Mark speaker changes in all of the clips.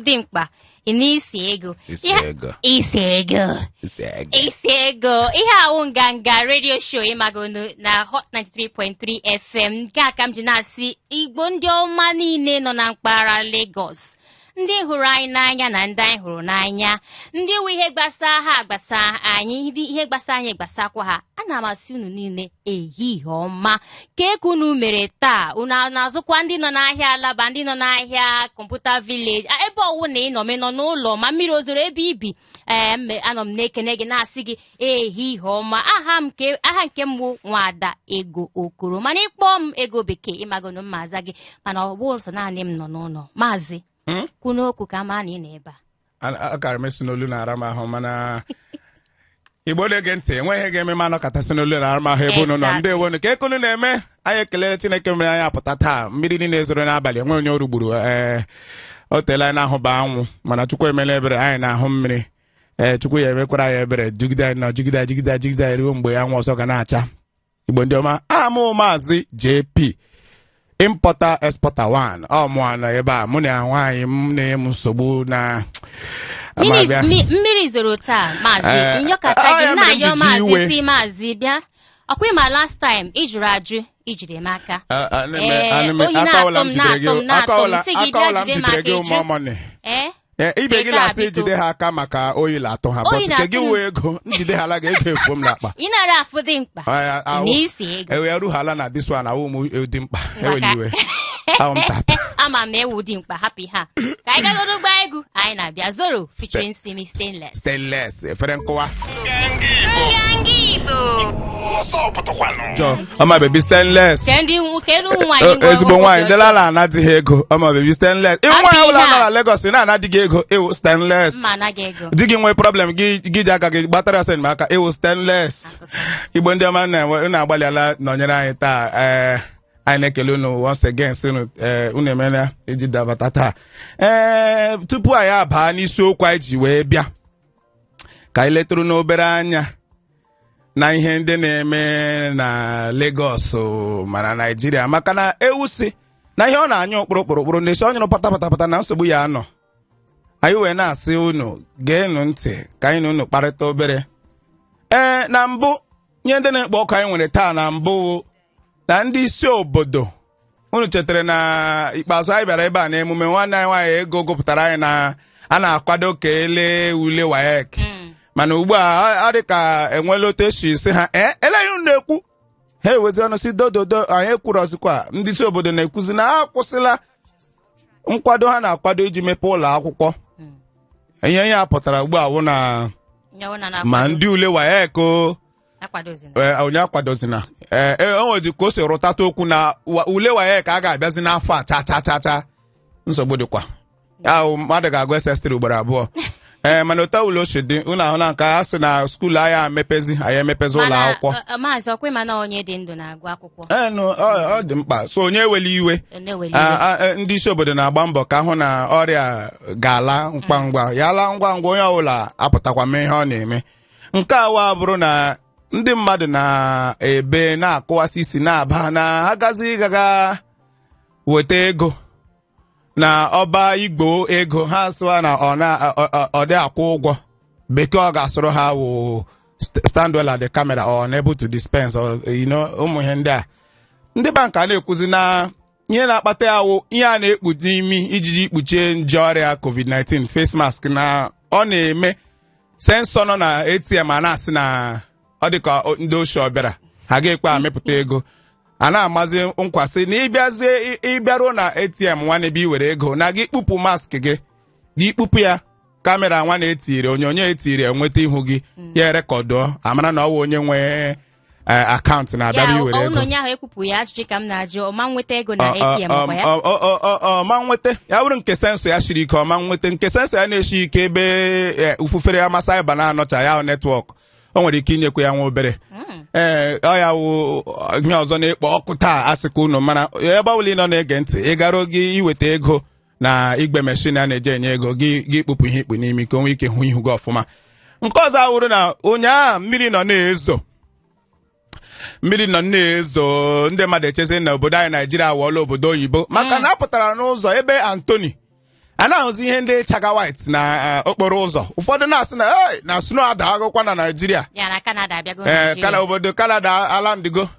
Speaker 1: dimkpa ị nụ isi ego isi ego ihe a wụ nganga redio show ịmagonụ na hot 93.3 fm nke a ka m ji na-asị igbo ndị ọma niile nọ na mpaghara Lagos ndị hụrụ anyị n'anya na ndị anyị hụrụ n'anya ndị nwe ihe gbasa ha gbasa anyị ndị ihe gbasa anyị gbasakwa ha ana m asị unu niile ehihie ọma kee ka unu mere taa unu a na-azụkwa ndị nọ n'ahịa alaba ndị nọ n'ahịa computer village a, ebe ọ wụna ị nọ ma ị nọ n'ụlọ ma mmiri o zoro ebe i bi ee mme anọ m na-ekene gị na-asị gị ehihie ọma aha m ke- aha nke m bụ nwada ego okoro mana ị kpọọ m ego bekee ịmagonụ m ma aza gị mana ọ bụ sọ naanị m nọ n'ụlọ maazị Hmm? kwuonụ okwu ka a ma na ị nọ ebe a A- a- akara
Speaker 2: m asị na olu na-ara m ahụ mana igbo na-ege ntị o nweghị ihe ga-eme m anọkata sị na olu na-ara m ahụ ebe unu nọ Exactly. ndeewonụ kee ka unu na-eme anyị ekelere chineke mere anyị apụta taa mmiri niile zoro n'abalị enwe onye o rigburu ee o teela anyị na-ahụba anwụ mana chukwu emela ebere anyị na-ahụ mmiri ee chukwu ya emekwara anyị ebere jigide anyị na jigide anyị jigide anyị jigide anyị ruo mgbe anwụ ọzọ ga na-acha igbo ndị ọma aha m wụ maazị jp importer exporter 1 ọ mụa nọ ebe a mụ na nwaanyị m na-enye m nsogbu na Mmiri- Amabịa.
Speaker 1: mi- mmiri zoro taa maazị Eh, m yọkata ah, ya gị mere m na-ayọ ji ji maazị iwe. sị maazị bịa ọ kwa ị ma last time ị jụrụ ajụ ijide m aka A- a- ana m- Ee, ana m- oyi aka na-atụ ọla m m, jidere gị na-atụ m, na-atụ aka m, ọla- sị gị aka bịa ọla m jide m jidere aka gị ị jụ. ụmụ ọmọnị ee Ee, ibe gị Teta,
Speaker 2: na-asị biko. jide ha aka maka oyi na-atụ ha Oyi but nke na-atụ gị m. wee ego njide ha ala ga-ego efu m n'akpa ị na-ara afụ dimkpa
Speaker 1: Aya, ahụ- nụ isi ego ewe ya ruhala na this
Speaker 2: one awụ m dimkpa eweli iwe ahụ m tata
Speaker 1: ama m na ị wụ dimkpa hapụ ihe a ka anyị gagoro gba egwu anyị na-abịa zoro featuring simi stainless stainless
Speaker 3: efere
Speaker 2: nkụwa jọ ọma baby stainless kedu kedu ụmụ nwaanyị E- ezigbo nwaanyị ndị lala ana di ha ego ọma baby stainless ị wụ nwaanyị ọbụla Abịa. nọ na Lagos ị naghị ana di gị ego ị wụ stainless mma anaghị ego di gị nwee problem gị gị ji aka gị gbatara ya ọsọ enyemaka ị wụ stainless igbo ndị ọma na-enwe- unu agbalịala nọnyere anyị taa ee anyị na-ekele unu once again sị unu ee unu emela iji dabata taa ee tupu anyị abaa n'isiokwu anyị ji wee bịa ka anyị letụrụnụ obere anya na ihe ndị na-eme na Lagos ma na Nigeria maka na ewu sị na ihe ọ na-anyụ kpụrụ kpụrụkpụrụ na a sị ọ nyụrụ pata pata pata na nsogbu ya anọ anyị wee na-asị unu geenụ ntị ka anyị na unu kparịta obere ee na mbụ ihe ndị na-ekpo ọkụ anyị nwere taa na mbụ na ndị isi obodo unu chetara na ikpeazụ anyị bịara ebe a n'emume nwanne anyị nwaanyị ego gụpụtara anyị na a na-akwado ka ele ule WAEC Mm. mana ugbu a ọ- ọ dị ka enwela otu esi si ha ee eleghị unu na-ekwu ha ewezi ọnụ sị dododo anyị ekwurọzikwa ndị isi obodo na-ekwuzi na ha akwụsịla nkwado ha na-akwado iji mepee ụlọ akwụkwọ Mm. ihe ya pụtara ugbu a wụ na ya wụ na na- ma ndị ule WAEC o akwadozina ee, onye akwadozina ee e, o nwedị ka o si rụtata okwu na wa- ule WAEC a ga-abịazi n'afọ a cha cha cha cha nsogbu dịkwa ya mmadụ ga-agụ SS3 ugboro abụọ ee mana otu ọbụla o si dị unu ahụ na nke a sị na skuul anyị amepezi anyị emepezi ụlọ Mana, akwụkwọ ọ- ọ- maazị
Speaker 1: ọkwe mana onye dị ndụ na-agụ akwụkwọ ee nụ, ọ ọ
Speaker 2: dị mkpa sọ onye eweli iwe ọ na-eweli iwe. A- a- e, ndị isi obodo na-agba mbọ ka a hụ na ọrịa ga-ala ngwa ngwa ya laa ngwa ngwa onye ọbụla apụtakwa mee ihe ọ na-eme nke a wa abụrụ na ndị mmadụ na-ebe na-akụwasị isi na-aba na ha gazi gaga weta ego na ọba igwe ego ha sụwa na ọ na- ọ- ọ- ọ dị akwụ ụgwọ bekee ọ ga-asụrụ ha wụ st- stand well at the camera or unable to dispense or, you know, ụmụ ihe ndị a ndị bank a na-ekwuzi na ihe na-akpata ya wụ ihe a na-ekpu n'imi ijiji kpuchie nje ọrịa covid-19 face mask na ọ na-eme sensọ nọ na atm a na-asị na ọ dị ka o- ndị oshi ọ bịara ha ga-ekwe amịpụta ego a na-amazi nkwa sị na ịbịazie ị- ịbịaruo na atm nwa n'ebe i were ego na gị kpupụ mask gị ị kpupụ ya kamera nwa na-etiri onyonyo etiri enweta ihu gị ya erekọdụọ a mara na ọ wụ onye nwe eh, akaụntụ na-abịa ya bụ iwere ọ wụ ego na onye ahụ ekpupụ ya ajụjụ ka m na-ajụ ọ ma nweta ego na Ọ- ọ- ATM ọ- ọkwa ya ọ- ọ- ọ- ọ- ọ ma nweta ya bụrụ nke sensọ ya siri ike ọ ma nweta nke sensọ ya na-esi ike ebe eh, ufufere ama saiba na-anọcha ya netwọk o nwere ike inyekwa ya nwa obere Mm. ee ọ ya wụ ihe ọzọ na-ekpo ọkụ taa a sị ka unu mara ebe ọbụla ị nọ na-ege ntị ị gara oge iweta ego na igwe meshin a na-eji enye ego gị gị kpupụ ihe i kpu n'imi ka o nwee ike hụ ihu gị ọfụma nke ọzọ awụrụ na ụnyaahụ mmiri nọ na-ezo mmiri nọ na-ezo ndị mmadụ echezi na obodo anyị naijiria awọọla obodo oyibo maka na a pụtara n'ụzọ ebe Anthony a na-ahụzi ihe ndị chaga white na eh, okporo ụzọ ụfọdụ na-asị na "Hey, na snow adagokwa na naijiria ya na Canada abịago ee Naịjirịa. kana obodo Canada alandigo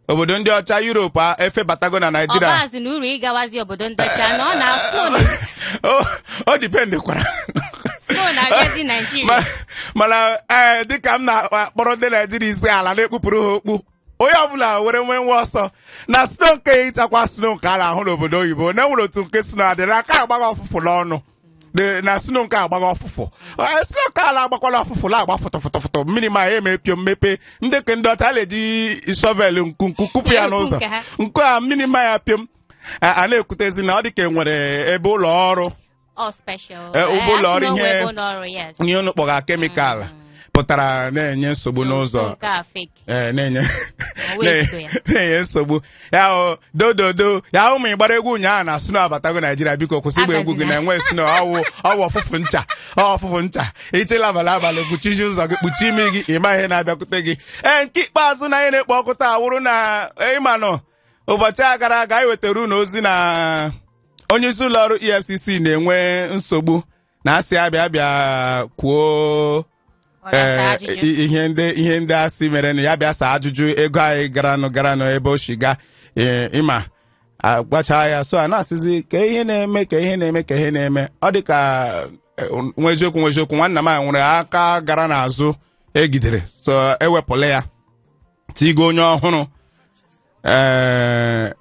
Speaker 2: obodo ndị ọcha Europe a efebatago na Naịjirịa ọ baazị na uru ịgawazi obodo ndị ọcha na ọ na-afụ O- o dipendekwara snow na-abịazi Ma- naijiria mana ee dịka m na-akpọrọ ndị naijiria isi ala na-ekpupụrụ ha okpu onye ọbụla were nwee nwa ọsọ na snow nke ịtakwa snow nke a na-ahụ n'obodo oyibo na enwere otu nke snow a dị na aka agbagha ụfụfụ n'ọnụ De- na snow nke a gbagha ọfụfụ Ee, snow nke a la-agbakwala ọfụfụ la-agba fụtọfụtọfụtọ mmiri ma ya e mee piom mepe ndị ke ndị ọcha na-eji shovel nku nku kụpụ ya Ekwu n'ụzọ nke ha. nke a mmiri ma ya piom a a na-ekwutezi na ọ dị ka e nwere ebe ụlọ ọrụ All special. Eh, ụgbọ ụlọ ọrụ a sị na o ihe- nwee ebe ụlọ ọrụ, yes. ihe unu kpọga kemikal pụtara na-enye nsogbu So, n'ụzọ nke a fake. ee na-enye O wee zigo ya. na-enye nsogbu ya wụ dododo ya wụ ma ị gbara egwu ụnyaahụ na snow abatago naijiria biko kwụsị ịgba egwu gị Agazina. na-enwe snow ọ wụ ọ wụ ọfụfụ ncha ọ wụ ọfụfụ ncha ịchịla abalị abalị kpuchizi ụzọ gị kpuchie imi gị ị ma ihe na-abịakwute gị ee nke ikpeazụ n'ihe na-ekpo ọkụ taa wụrụ na ị manụ ụbọchị a gara aga anyị wetara unu ozi na onye isi ụlọ ọrụ EFCC na-enwe nsogbu na a sị ya bịa bịa kwuo Ọ na-asa ee, ajụjụ. i- ihe ndị ihe ndị a sị mere na ya bịa saa ajụjụ ego anyị garanụ garanụ ebe o shi ga ee, ị ma agbacha ya so a na-asịzi ka ihe na-eme ka ihe na-eme ka ihe na-eme ọ dị ka eh, ọ wụ eziokwu ọ wụ eziokwu nwanna m a nwere aka gara n'azụ e jidere so e wepụla ya tigo onye ọhụrụ ee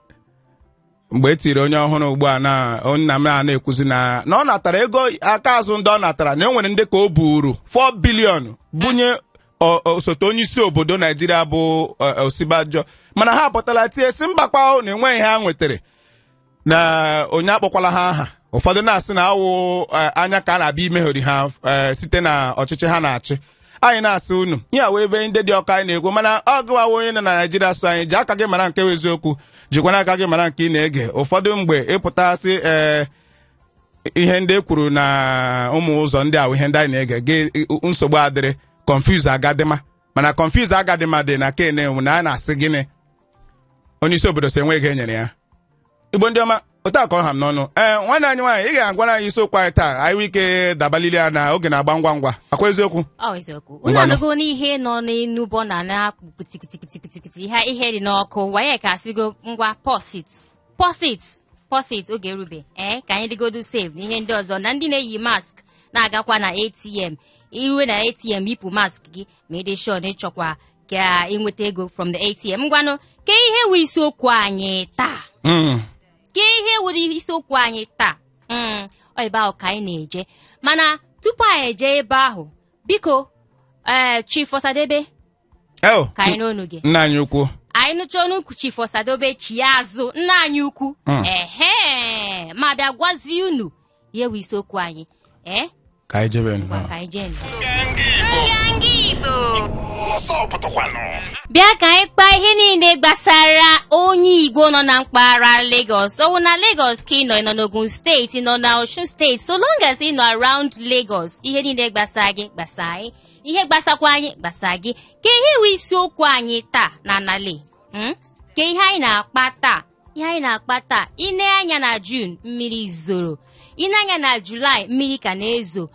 Speaker 2: mgbe e tiri onye ọhụrụ ugbu a nwanna m a na-ekwuzi na na ọ natara ego aka azụ ndị ọ natara na e nwere ndị ka o buuru 4 billion bunye o- osote onye isi obodo naijiria bụ eh, Osinbajo mana ha apụtala tie sị mba kwa na enweghị ihe ha nwetara na onye akpọkwala ha aha ụfọdụ na-asị na ọ wụ eh, anya ka a na-abịa imegheri ha eh, site na ọchịchị ha na-achị anyị na-asị unu ihe wee ebe ndị dị ọka anyị na-ekwu mana ọ gụwawa onye nọ na naijiria so anyị ji aka gị mara nke bụ eziokwu jikwana aka gị mara nke ị na-ege ụfọdụ mgbe ị pụtasị ee ihe ndị e kwuru na ụmụ ụzọ ndị ahụ ihe ndị anyị na-ege gị nsogbu adịrị confuse agadịma mana confuse agadịma dị na ken enwu na a na-asị gịnị onye isi obodo sị enweghị ego e nyere ya igbo ndị ọma otu a ka ọ ha m n'ọnụ ee nwanne anyị nwaanyị ị ga-agwara anyị isiokwu anyị taa anyị nwee ike dabalili ya na oge na-agba ngwa ngwa ọ kwa eziokwu ọ eziokwu unu Ngwanụ. anụgo
Speaker 1: n'ihe nọ n'enu bọ na na-akpụ kpitikitikitikitikiti ihe ihe dị n'ọkụ waya ka a sịgo ngwa pọsit pọsit pọsit oge erube ee ka anyị dịgodu safe na ihe ndị ọzọ na ndị na-eyi mask na-agakwa na ATM i rue na ATM yipụ mask gị ma ị dị sure na ị chọkwa ka i nweta ego from the ATM ngwanụ kee ihe wụ isiokwu anyị taa Mm. kee ihe wụrụ isiokwu anyị taa Mm, ọ ebe ahụ ka anyị na-eje mana tupu anyị eje ebe ahụ biko ee Chief Osadebe Oh, ka anyị nụ onu gị nna anyị ukwu
Speaker 2: anyị nụcha onu ukwu
Speaker 1: Chief Osadebe chi ya azụ nna anyị ukwu Mm. ehe ma bịa gwazie unu ihe wụ isiokwu anyị ee ka
Speaker 2: anyị jebe ngwa nnọọ ka anyị jee
Speaker 1: nụ. bịa ka anyị kpaa ihe niile gbasara onye Igbo nọ na mpaghara Lagos ọ wụ na Lagos ka ị nọ ị nọ n'Ogun steeti ị nọ na Osun steeti so long as ị nọ around Lagos ihe niile gbasara gị gbasa anyị ihe gbasakwa anyị gbasa gị ka ihe wụ isiokwu anyị taa na anali mm? ka ihe anyị na-akpa taa ihe anyị na-akpa taa i nee anya na Juun mmiri zoro i nee anya na Julaị mmiri ka na-ezo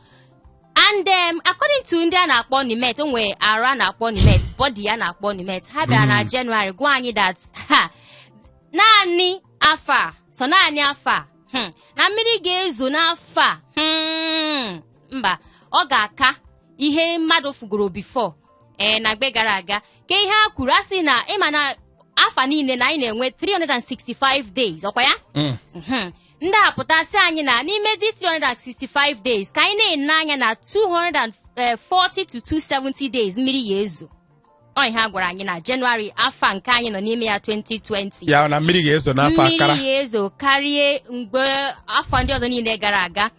Speaker 1: and um, according to ndị a na-akpọ NiMet o nwere arụ a na-akpọ NiMet body a na-akpọ NiMet ha bịara na Jenụwarị gwa anyị that naanị afọ a sọ naanị afọ a hmm, na mmiri ga-ezo n'afọ a hmm, mba ọ ga-aka ihe mmadụ fụgoro before ee na mgbe gara aga ka ihe a kwuru a sị na ị ma na afọ niile na anyị na-enwe 365 days ọ kwa ya Mm. Mhm. ndị a pụta sị anyị na n'ime this 365 days ka anyị na-ene anya na 240 to 270 days mmiri ya-ezo ọ ihe a gwara anyị na Jenụwarị afọ a nke anyị nọ n'ime ya 2020 ya na mmiri ga-ezo
Speaker 2: n'afọ a kara mmiri ya-ezo karịa
Speaker 1: mgbe afọ ndị ọzọ niile gara aga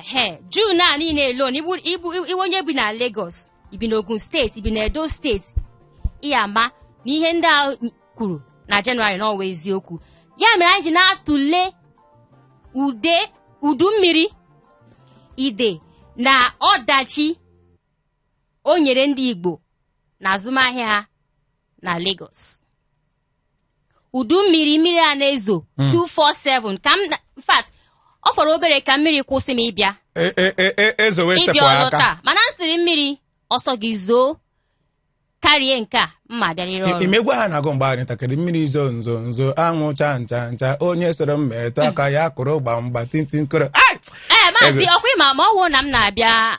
Speaker 1: ehe Juun a niile alone ị wụ onye bi na Lagos i bi n'Ogun steeti i bi na Edo steeti ị ya-ama na ihe ndị a kwuru na Jenụwarị na ọ wụ eziokwu ya mere anyị ji na-atụle udu mmiri ide na ọdachi o nyere ndị Igbo na azụmahịa ha na Lagos udu mmiri mmiri a na-ezo 247 ka m na- in fact ọ fọrọ obere ka mmiri kwụsị m ịbịa E- e- e- e- ezowe
Speaker 2: ịbịa sepụ ọrụ aka taa mana m sịrị mmiri
Speaker 1: ọ sọ gị zoo karịa nke a m ma-abịarịrị ọrụ ị ma egwu ha na-agụ mgbe
Speaker 2: anyị ntakịrị mmiri zo nzo nzo anwụ cha ncha ncha onye soro m metụ aka ya kụrụ gbamgba tintin koro ai ee maazị
Speaker 1: ọ kwa ị ma ma ọ wụ na m na-abịa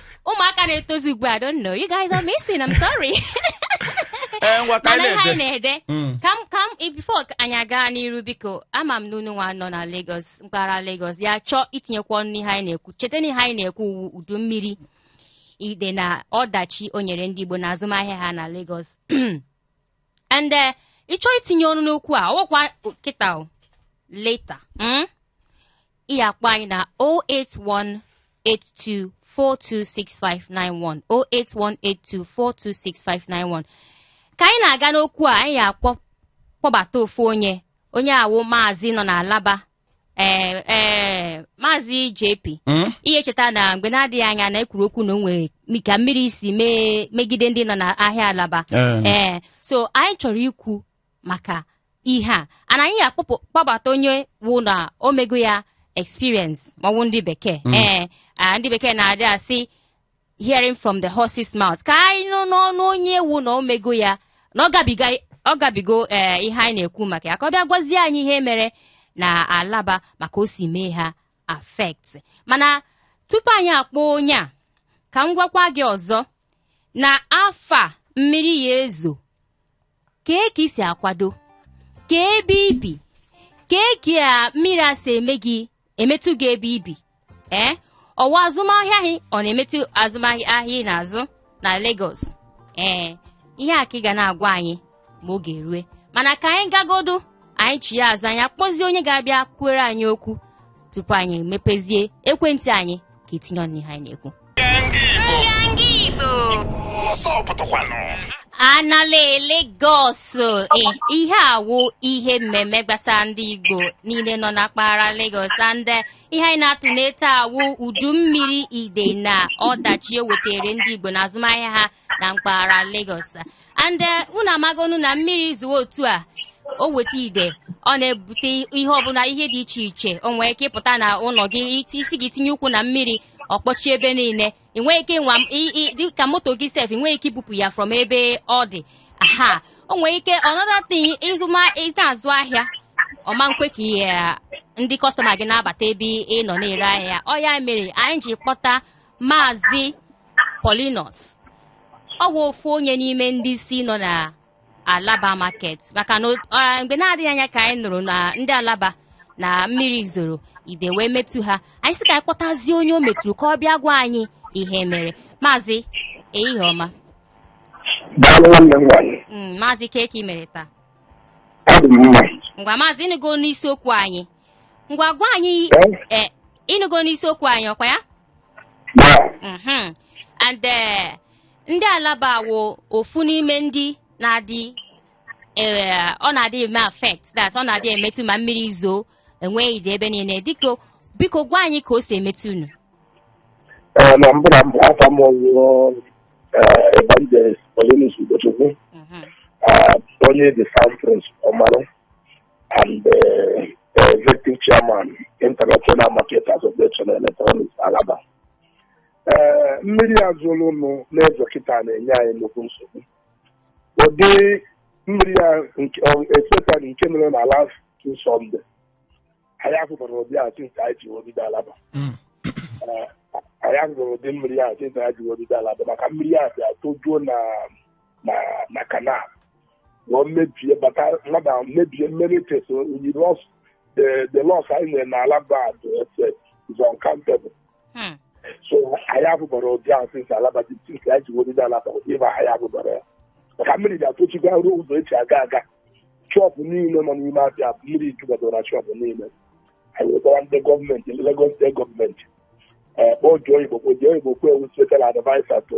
Speaker 1: ụmụaka na-etozi ugbu a don't know you guys are missing I'm sorry ee ngwa ka mana anyị ihe anyị na-eje na-ede Mm. ka m ka m before anyị agaa n'iru biko ama m na unu nwa nọ na Lagos mpaghara Lagos ya-achọ itinyekwa ọnụ n'ihe anyị na-ekwu cheta na ihe anyị na-ekwu wụ udu mmiri ide na ọdachi o nyere ndị Igbo na azụmahịa ha na Lagos and eh, ị chọọ itinye ọnụ n'okwu a ọ wụkwa kịta ọ later mm? ị akpọ anyị na 08182426591 08182426591 ka anyị na-aga n'okwu a anyị akpọ kpọbata ofu onye onye a wụ maazị nọ n'Alaba ee ee maazị JP Mm? ị ya-echeta na mgbe na-adịghị anya na e kwuru okwu na o nwere mi- ka mmiri si mee megide ndị nọ n'ahịa Alaba Eh. ee so anyị chọrọ ikwu maka ihe a ana anyị akpọpụ kpọbata onye wụ na o mego ya experience maọbụ ndị bekee ee ah, ndị bekee na-adị asị hearing from the horse's mouth ka anyị nụ n'ọnụ onye wụ na o mego ya na ọ gabiga ọ gabigo ee ihe anyị na-ekwu maka ya ka ọ bịa gwazie anyị ihe mere na Alaba ma ka o si mee ha affect mana tupu anyị akpọ onye a ka m gwakwa gị ọzọ na afọ a mmiri ya-ezo kee ka i si akwado kee ebe i bi kee ka mmiri a si eme gị emetụ gị ebe i bi ee ọ wụ azụmahịa gị ọ na-emetụ azụmahịa ahịa ị na-azụ na Lagos ee ihe a ka ị ga na-agwa anyị ma oge rue mana ka anyị gagodu anyị chiya azụ anyị akpọzie onye ga-abịa kwuere anyị okwu tupu anyị mepezie ekwentị anyị ka e tinye ọnụ n'ihe anyị na-ekwu a n'ala Lagos eh, ihe a wụ ihe mmemme gbasara ndị Igbo niile nọ na mpaghara Lagos and eh, ihe anyị na-atụne taa wụ udu mmiri ide na ọdachi o wetere ndị Igbo na azụmahịa ha na mpaghara Lagos and eh, unu amagonu na mmiri zoo otu a o weta ide ọ na-ebute ihe ọbụla ihe dị iche iche o nwee ike ịpụta na ụlọ gị iti- ị sị gị tinye ụkwụ na mmiri ọ kpọchie ebe niile i nweghị ike nwa i- i- dị ka moto gị sef i nweghị ike ibupụ ya from ebe ọ dị aha o nwee ike another thing ị zụma ị na-azụ ahịa ọ ma-ekwe ka ihe ndị kọstọma gị na-abata ebe ị nọ na-ere ahịa ọ ya mere anyị ji kpọta Maazị Paulinus ọ bụ ofu onye n'ime ndị isi nọ na Alaba market maka na mgbe na-adịghị anya ka anyị nụrụ na ndị Alaba na mmiri zoro ide wee metụ ha anyị sị ka anyị kpọtazie onye o metụrụ ka ọ bịa gwa anyị ihe mere maazị ehihie ọma mm, maazị kee ka i mere taa ngwa maazị ị nụgo n'isiokwu anyị ngwa gwa anyị Eh? eh, ị nụgo n'isiokwu anyị ọ kwa ya Yeah. Mhm. and eh, ndị Alaba wụ ofu n'ime ndị na-adị eh, ọ na-adị eme affect that ọ na-adị emetụ ma mmiri zoo e nwee ide ebe niile dịka biko gwa anyị ka o si emetụ unu
Speaker 4: Eh, na mbụ na mbụ afa m awụrụ Evangelist Paulinus Ugochukwu Mhm. eh, onye the South Prince Ọmarụ and uh, executive chairman international market association electronics alaba ee mmiri a zụrụ ụnụ na-ezo kịta na-enye anyị nnukwu nsogbu ụdị mmiri a nke- ọ- especially nke mere na last two Sunday anyị afụbara ụdị a since anyị ji wee bido alaba Mm. Ee, anyị afụbara ụdị mmiri a since anyị ji wee bido alaba maka mmiri a bịa tojuo na na na canal wee mebie bata mmadụ ahụ mebie many things anyị lost the the loss anyị nwere n'alaba is uncountable Hmm. so anyị afụbara ụdị ahụ since alaba dị since anyị ji wee bido alaba ịba anyị afụbara ya maka mmiri ga-atochikwa ruo ụzọ eji aga aga shop niile nọ n'ime afịa bụ mmiri jubadoro na shop niile anyị wetara ndị gọọmenti Lagos steeti gọọmenti kpọọ Joe Igbokwe Joe Igbokwe wu special adviser to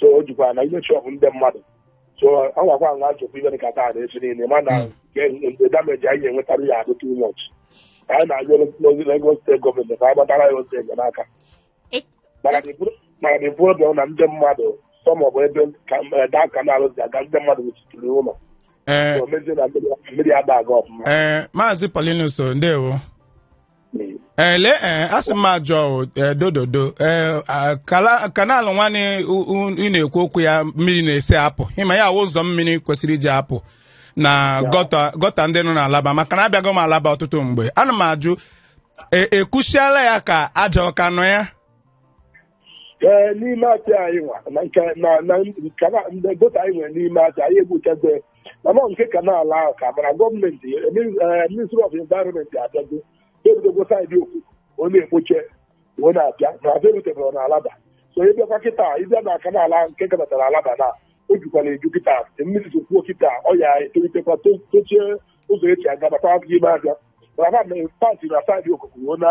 Speaker 4: so o jukwa n'ime shop ndị mmadụ so ọ gwakwa nwa chọpụ ibe dịka taa na echi niile mana the damage anyị nwetara ya adị too much Ka anyị na-ayọzi Lagos steeti gọọmenti ka ha gbatara anyị ọsọ enyemaka E- mana the pro- mana the problem na ndị mmadụ some of ebe ka- eh, that canal si aga ndị mmadụ wuchitiri ụlọ ee so mezie na mmiri- mmiri ada aga ọfụma ee maazị Paulinus
Speaker 2: ndewo ele ee asị m ajụọ ee dododo ee a- kala- canal nwanụ u- u- ị na-ekwu okwu ya mmiri na-esi apụ ịma ya awụ ụzọ mmiri kwesịrị iji apụ na gọta gọta ndị nọ n'alaba maka na abịago m alaba ọtụtụ mgbe ana m ajụ e- ekpochaala ya ka aja ọ ka nọ ya ee
Speaker 4: n'ime afịa anyị nwa na nke na na nke na ndị gọta anyị nwere n'ime afịa anyị ekpochago ya. mana ọ nke canal ahụ ka mara gọọmenti eh, min- eh, ministry of environment abịago ebidogwo saịdị okoko na-ekpocha ọ na-abịa na abịa erutebere na alaba so ị bịakwa kịta ịbịa na canal ahụ nke gabatara alaba na o jukwara eju kịta mmiri zokwuo kịta ọ ya etolitekwa to- tochie ụzọ eji agabata abụghị ime afịa mana na part na saịdị okoko ọ na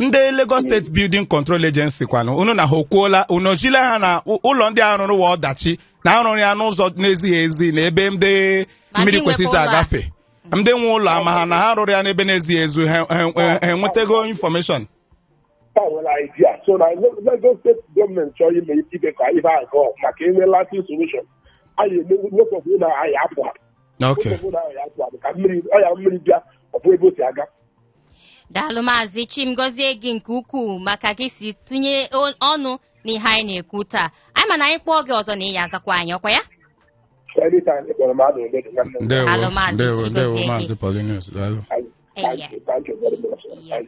Speaker 2: ndị Lagos steeti building control agency kwanụ unu na ha okwuola unu ozile ha na ụ- ụlọ ndị a rụrụ wa ọdachi na arụrụ ya n'ụzọ na-ezighị ezi na ebe ndị Ma mmiri ndị kwesịrị nwekwa ụlọ a. agafe ndị nwe ụlọ ama ha na ha rụrụ ya n'ebe na-ezighị ezi ha ha- ha- ha enwetago information ka
Speaker 4: nwere idea so na Lagos steeti gọọmenti chọrọ ime ibe ka ibe a gọọ maka inwe lasting solution anyị emekwepụ na anyị apụ apụ ok Ekwepụ na anyị apụ apụ ka mmiri ọya mmiri bịa ọ fụ ebe o si aga
Speaker 1: daalụ maazị chim gozie gị nke ukwuu maka gị si tụnye o- ọnụ n'ihe anyị na-ekwu taa anyị ma na anyị kpọọ gị ọzọ na ị ya azakwa anyị ọkwa ya Anytime ị kpọrọ m adụ m ready nwanne m. ndewo Daalụ, Maazị ndewo Chi gozie ndewo gị. maazị Paulinus daalụ Thank you, thank you very much. Yes.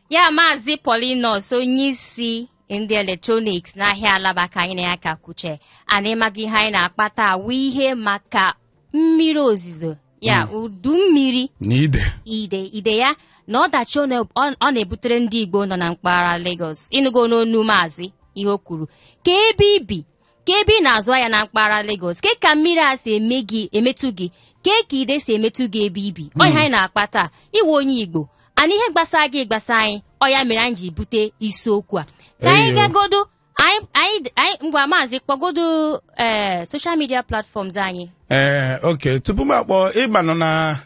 Speaker 1: ya maazị Paulinus onye isi ndị eletrọniks n'ahịa Alaba ka anyị na ya ka kwuche and ị maga ihe anyị na-akpa taa wụ ihe maka mmiri ozizo ya udu mmiri na
Speaker 2: ide ide ide
Speaker 1: ya na ọdachi ọ na- ọ ọ na-ebutere ndị igbo nọ na mpaghara Lagos ị nụgo n'ọnụ maazị ihe o kwuru kee ebe i bi kee ebe ị na-azụ ahịa na mpaghara Lagos ke ka mmiri a si eme gị emetụ gị ke ka ide si emetụ gị ebe i bi ọ ihe anyị na-akpa taa ị wụ onye Igbo and ihe gbasara gị gbasa anyị ọ ya mere anyị ji bute isiokwu a ka anyị Eyo. gagodo anyị anyị anyị ngwa maazị kpọgodo ee social media platforms anyị ee okay
Speaker 2: tupu m akpọ ị manụ na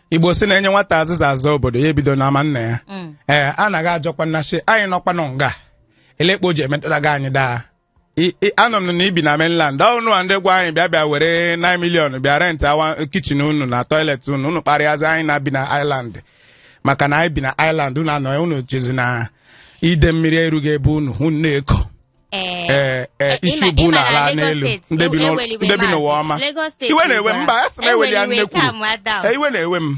Speaker 2: Igbo sị na e nye nwata azịza ịza obodo ya ebido n'ama nna ya Mm. ee a na-aga ajụkwa Nnachi anyị nọkwanụ nga elee kpa o ji emetụta gị anyị daa I- i- anụ m na i bi na mainland ọ unu a ndị gwa anyị bịa bịa were 9 million bịa rent awa kitchen unu na toilet unu unu kparịazi anyị na-abi na island maka na anyị bi na island unu anọ unu chezi na ide mmiri erughị ebe unu unu na-eko Ee. ee ee Eh, isi ịma- bụ ịma na n'ala Lagos n'elu steeti, ndị bi e- n'ụlọ- eweliwe ndị bi n'ụwa maazị. ọma Lagos steeti iwe na-ewe m ugbu a. mba a sị na eweli ya Eweliwe nnekwu Sam Adam. iwe na-ewe m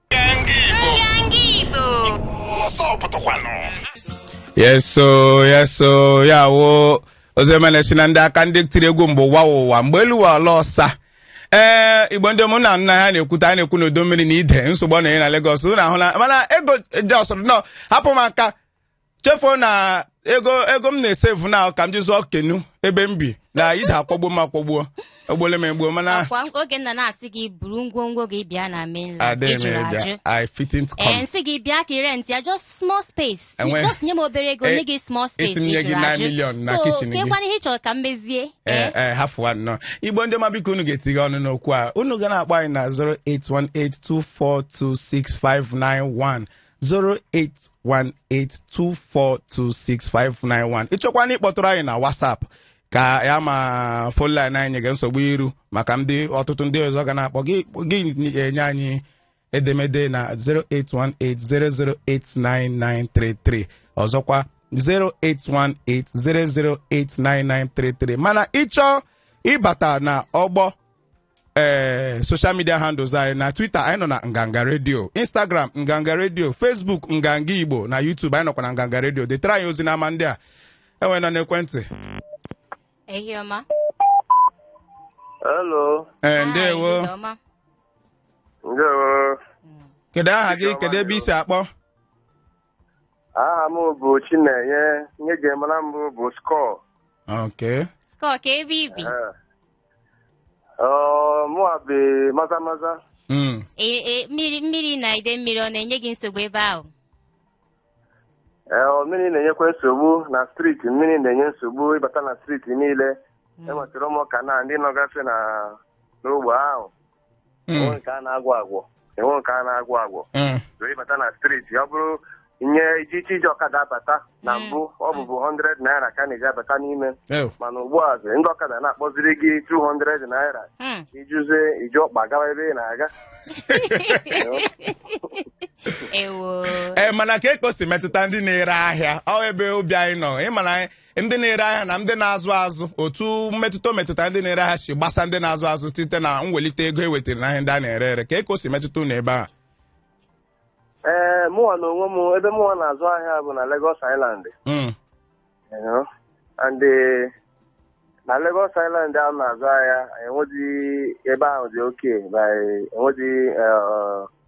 Speaker 2: yes so yes so ya wụ Ozoemena sị na ndị aka ndị tiri egwu mgbe ụwa wụ ụwa mgbe elu wụ ala ọsa ee igbo ndị ọma nna a na-ekwute a na-ekwu n'udu mmiri na ide nsogbu ọ na-enye na Lagos unu ahụ na mana ego jọsụrụ nọ hapụ m aka chefuo na ego ego m na-esevu na ka m ji zụọ kenu ebe m bi na ide akwọgbuo m akwọgbuo egbuole m egbuo mana kwa oge nna na-asị
Speaker 1: gị buru ngwongwo gị bịa na mainland adịghị m ị jụrụ ajụ ịbịa i fitting to ee come
Speaker 2: m sị gị bịa ka ị rent ya
Speaker 1: just small space Enwe- just nye m obere ego Eh, nye gị small space asị m nye gị ị jụrụ 9 ajụ.
Speaker 2: million na So, kitchen gị. kekwanụ ihe ị chọrọ ka
Speaker 1: m mezie ee ee ee
Speaker 2: hafụwa nnọọ igbo ndị ọma biko unu ga-etinye ọnụ n'okwu a unu ga na-akpọ anyị na 08182426591 08182426591 ị chọkwanụ ịkpọtụrụ anyị na WhatsApp ka ya ma phone line anyị nyega nsogbu iru maka ndị ọtụtụ ndị ọzọ ga na-akpọ gị enye anyị edemede na 08180089933 ọzọkwa 08180089933 mana ị chọọ ịbata na ọgbọ ee social media handles anyị na twitter anyị nọ na nganga redio instagram nganga redio facebook nganga igbo na youtube anyị nọkwa na nganga redio detara anyị ozi n'ama ndị a onye nọ n'ekwentị
Speaker 1: Ehihie ọma.
Speaker 5: Hello. ee Hi, ndewo Izu
Speaker 2: ọma.
Speaker 5: Ndewo. kedu
Speaker 2: aha gị kedu ebe i si
Speaker 5: akpọ Aha m bụ Chinenye. Ihe e ji mara m bụ Skọ. okay
Speaker 2: Skọ kee
Speaker 1: ebe i bi.
Speaker 5: Ọ, mụwa bi Maza Maza Mm. Ee,
Speaker 1: ee, mmiri mmiri na ide mmiri ọ na-enye gị nsogbu ebe ahụ Ee,
Speaker 5: ọ, mmiri na-enyekwa nsogbu na striti mmiri na-enye nsogbu ịbata na striti niile enwetara ụmụaka na ndị nọgasị na n'ogbe ahụ Mm. enwe nke a na-agwọ agwọ enwe nke a na-agwọ agwọ Mm. ịbata na striti ọ bụrụ nye iji iche iji ọkada abata na Mm. mbụ ọ bụbu 100 naira ka a na-eji abata n'ime Oh. mana ugbu a zi, ndị ọkada na-akpọziri gị 200 naira Mm. ijizie iji ọkpa gawa ebe ị
Speaker 2: na-aga ewo ee mana kee ka o si metụta ndị na-ere ahịa ọ wụ ebe obi anyị nọ ị ma na ndị na-ere ahịa na ndị na-azụ azụ otu mmetụta o metụta ndị na-ere ahịa si gbasa ndị na-azụ azụ site na mwelite ego e wetara n'ahịa ndị a na-ere ere kee ka o si metụta unu ebe a ee mụnwa
Speaker 5: na onwe m ebe mụnwa na-azụ ahịa bụ na Lagos Island Mm, you know, and eh, na Lagos Island a na-azụ ahịa enweghị ebe ahụ dị okay enweghị eh,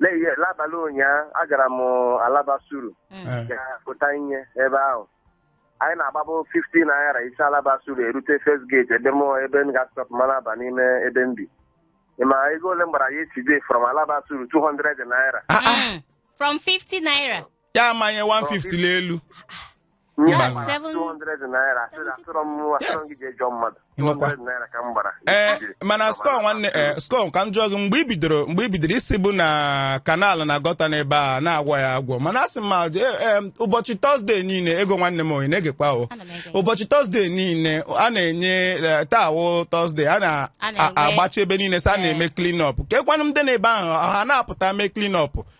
Speaker 5: Lee ihe, n'abalị ụnyaahụ, agara m Alaba Suru Mm. Eh, ga pụta ihe ebe ahụ. Anyị na-agbabu 50 naira i si Alaba Suru erute First Gate ebe m ebe m ga-stop ma na-aba n'ime ebe m bi. Ị ma ego ole m gbara yesterday from Alaba Suru 200 naira. ah, ah, Mm. From 50
Speaker 1: naira. ya amanye
Speaker 2: 150 n'elu nye Mba. m That's seven- 200
Speaker 5: naira sị na asịrọ m nwa asịrọ m gị jee jụọ mmadụ Ịmakwa. 200 naira ka m gbara ee mana
Speaker 2: Score nwanne ee Score ka m jụọ gị mgbe i bidoro mgbe i bidoro ị sịbu na kanal na gọta n'ebe a na-agwọ ya agwọ mana asị m ma ee, ee, ụbọchị tọzdee niile Ego nwanne m ị na-egekwa o Ana m ege. ụbọchị tọzdee niile a na-enye ee, taa wụ tọzdee a na- A na-enwe- a- agbachi ebe niile sị a Ee. na-eme clean up kekwanụ ndị nọ ebe ahụ ha na-apụta mee clean up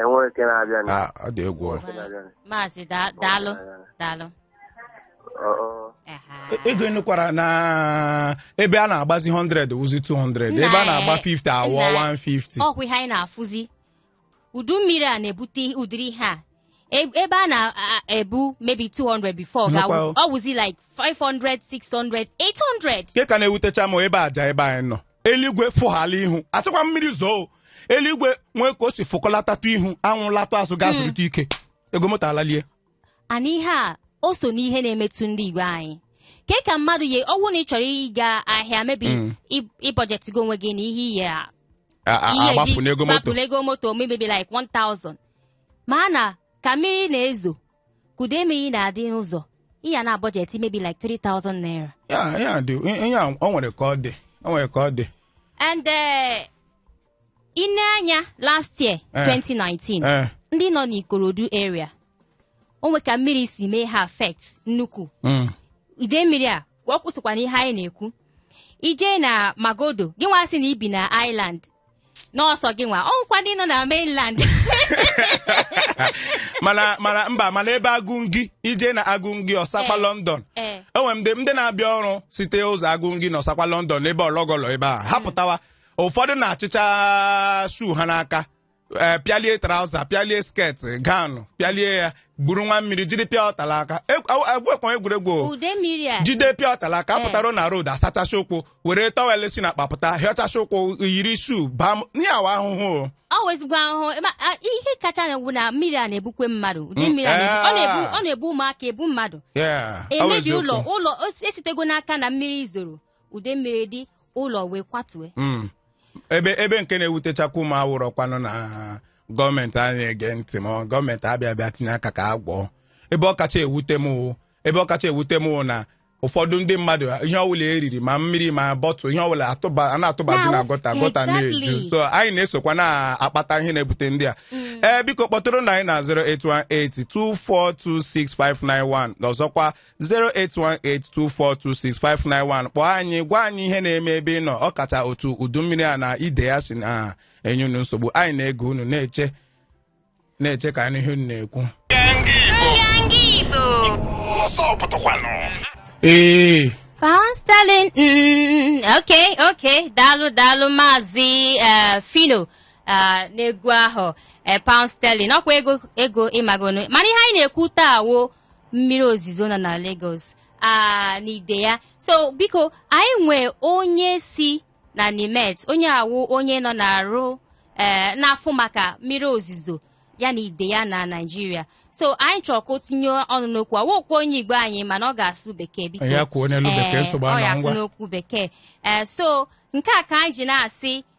Speaker 5: enweghị nke na-abịa na Ah, ọ dị egwu ọ.
Speaker 2: nke na-abịa na maazị
Speaker 1: da- daalụ
Speaker 2: daalụ ọ ọ Aha. Ego ị nụkwara na ebe a na-agbazi 100 wụzi 200 ebe a na-agba 50 awọ Nna, 150 ọ kwa ihe anyị
Speaker 1: na-afụzi udu mmiri a na-ebute ụdịrị ihe a E- ebe a na-ebu maybe 200 before Nnukwu ga- ahụ. ọ wụzi like 500, 600, 800. nke ka na-ewutecha
Speaker 2: m ebe Ajah ebe anyị nọ eluigwe fụghala ihu a sịkwa mmiri zoo eluigwe nwee ka o si fụkọlatatụ ihu anwụ latụ azụ gaa zụrịta ike ego moto
Speaker 1: alalie Ana ihe a o so n'ihe na-emetụ ndị Igbo anyị. Kee ka mmadụ ye ọwụ na ị chọrọ ịga ahịa maybe ị- ị bọjetịgo onwe gị na ihe ị ya a A- a- ị ya-agbafu n'ego moto gbapụla ego moto maybe like 1000 mana ka mmiri na-ezo ka ide mmiri na-adị n'ụzọ ị ya na-abọjetị maybe like 3000 naira ya ya dị ihe a
Speaker 2: o nwere ka ọ dị o nwere ka ọ dị and eh,
Speaker 1: i nee anya last year Eh. 2019 ee ndị nọ n'Ikorodu area o nwe ka mmiri si mee ha affect nnukwu mm. ide mmiri a ka ọ kwụsịkwa na ihe anyị na-ekwu i jee na Magodo gị nwa sị na i bi na island na ọ sọ gị nwa o nwekwa ndị nọ na mainland
Speaker 2: mana mana mba mana ebe agụngi i jee na Agungi Osapa Eh. london Eh. e nwere ndị ndị na-abịa ọrụ site ụzọ agụngi na Osapa London ebe ọlọgọlọ ebe a ha pụtawa ụfọdụ na-achịcha shuu ha n'aka ee pịalie trauza pịalie sket gown pịalie ya gwuruwa mmiri jide pure water n'aka egwekwa egwuregwu o. udu mmiri a jide pure water n'aka Eh. pụtara na road asachacha ụkwụ were tọwel si na akpa pụta hichacha ụkwụ yiri shuu baa m- ihe a wụ ahụhụ o. ọ wụ ezigbo ahụhụ ebe a-
Speaker 1: a- ihe kacha na-egwu na mmiri a na-ebukwa mmadụ ụdị Mm, mmiri a na-ebu- ọ na-ebu eh. ọ na-ebu ụmụaka ebu mmadụ Yeah, ọ bụ emebi eziokwu. ụlọ ụlọ o- esitego n'aka na mmiri zoro udu mmiri dị ụlọ wee kwatuo Mm.
Speaker 2: ebe ebe nke na-ewutechakwa mụ ọ wụrụkwanụ na gọọmenti a na-ege ntị ma gọọmenti abịa abịa tinye aka ka a gwọọ ebe ọ kacha ewute m wụ- ebe ọ kacha ewute m wụ na ụfọdụ ndị mmadụ ihe ọbụla e riri ma mmiri ma bottle ihe ọbụla atụba a na-atụbaju na Na- gọta gọta na-eju exactly. so anyị na-esokwa na-akpata ihe na-ebute ndị a ee biko kpọtụrụnụ anyị na 08182426591 ọzọkwa 08182426591 kpọọ anyị gwa anyị ihe na-eme ebe ị nọ ọ kacha otu udu mmiri a na ide ya si na-enye unu nsogbu anyị na-ege unu na-eche na-eche ka anyị nụ ihe unu na-ekwu ee
Speaker 1: Pound sterling. Mm, okay, okay. Dalu, dalu, mazi, uh, Phyno. Uh, n'egwu ahụ eh, pound sterling ọkwa ego ego ị magonụ mana ihe anyị na-ekwu taa wụ mmiri ozizo na na Lagos a na ide ya so biko anyị nwee onye si na NiMet onye a wụ onye nọ na-arụ ee na-afụ maka mmiri ozizo ya na ide ya na naijiria so anyị chọrọ ka o tinye ọnụ n'okwu a ọ wụkwa onye igbo anyị mana ọ ga-asụ bekee biko ya kwuo n'olu bekee Ee,
Speaker 2: nsogbu anọọ ya asụ ngwa n'okwu bekee
Speaker 1: ee so nke a ka anyị ji na-asị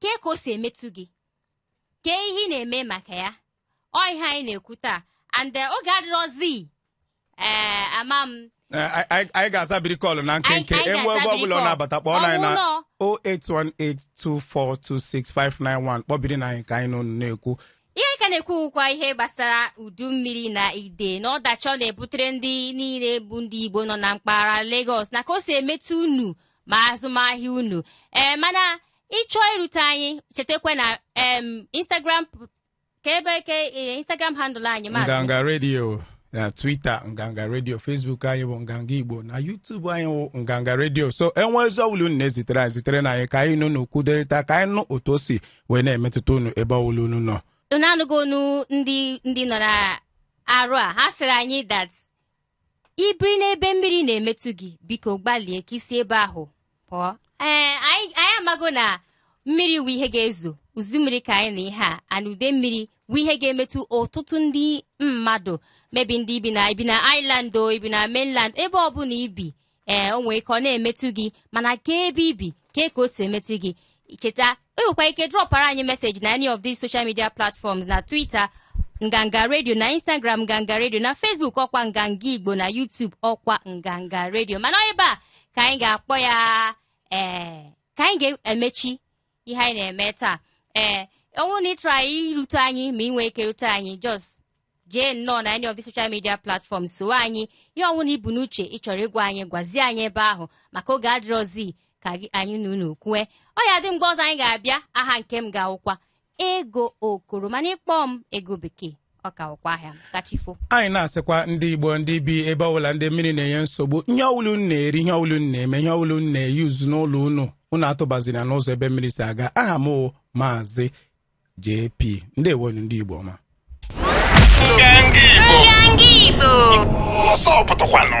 Speaker 1: kee ka o si emetụ gị kee ihe ị na-eme maka ya ọ ihe anyị na-ekwu taa and eh, oge adịrọzi ee eh, ama m eh,
Speaker 2: anyị ga-azabiri call na nkenke e nwee ebe ọbụla ọ na-abata kpọọ anyị na 08182426591 kpọbirinụ anyị ka anyị na unu na-ekwu ihe a ka na-ekwu
Speaker 1: wụkwa ihe gbasara udu mmiri na ide na ọdachi ọ na-ebutere ndị niile bụ ndị Igbo nọ na mpaghara Lagos na ka o si emetụ unu ma azụmahịa unu ee mana ị chọọ irute anyị chetakwa na em instagram p- ka ebe ka eh, instagram handle anyị maazị nganga redio
Speaker 2: na twitter nganga redio facebook anyị bụ nganga igbo na youtube anyị bụ nganga redio so e nwee ozi ọbụla unu na-ezitere anyị ziterenụ anyị ka anyị na unu kwukọrịta ka anyị nụ otu o si wee na-emetụta unu ebe ọbụla unu nọ unu anụgo ọnụ
Speaker 1: ndị ndị nọ n'ọrụ a ha sịrị anyị that i biri n'ebe mmiri na-emetụ gị biko gbalie ka i si ebe ahụ pụọ ee anyị anyị amago na mmiri wụ ihe ga-ezo udu mmiri ka anyị nọ ihe a and udu mmiri wụ ihe ga-emetụ ọtụtụ ndị mmadụ maybe ndị i bi na i bi na island or i bi na mainland ebe ọbụla i bi ee o nwee ike ọ na-emetụ gị mana ka ebe i bi ka ka o si emetụ gị cheta i nwekwa ike drọpara anyị message na any of these social media platforms na Twitter Nganga Radio na Instagram Nganga Radio na Facebook ọkwa Nganga Igbo na YouTube ọkwa Nganga Radio mana ebe a ka anyị ga-akpọ ya ee ka anyị ga-emechi ihe anyị na-eme taa ee ọ wụ na ị chọrọ anyị irute anyị ma i nwee ike rute anyị just jee nnọọ na any of the social media platforms so anyị ihe ọwụna i bu n'uche ị chọrọ ịgwa anyị gwazie anyị ebe ahụ maka oge adịrọzi ka gị- anyị na unu kwue ọ ya dị mgbe ọzọ anyị ga-abịa aha nke m ga-awụkwa Ego Okoro mana ị kpọọ m Ego Bekee ọ ka wụkwa ahịa ka chi fo anyị
Speaker 2: na-asịkwa ndị igbo ndị bi ebe ọbụla ndị mmiri na-enye nsogbu ihe ọwụla unu na-eri ihe ọwụla unu na-eme ihe ọwụla unu na-eyuzu n'ụlọ unu unu atụbazina n'ụzọ ebe mmiri si aga aha m wụ Maazị JP ndewo nụ ndị igbo
Speaker 3: ọma Nganga Igbo. Nganga Igbo. Ọsọ pụtakwanụ.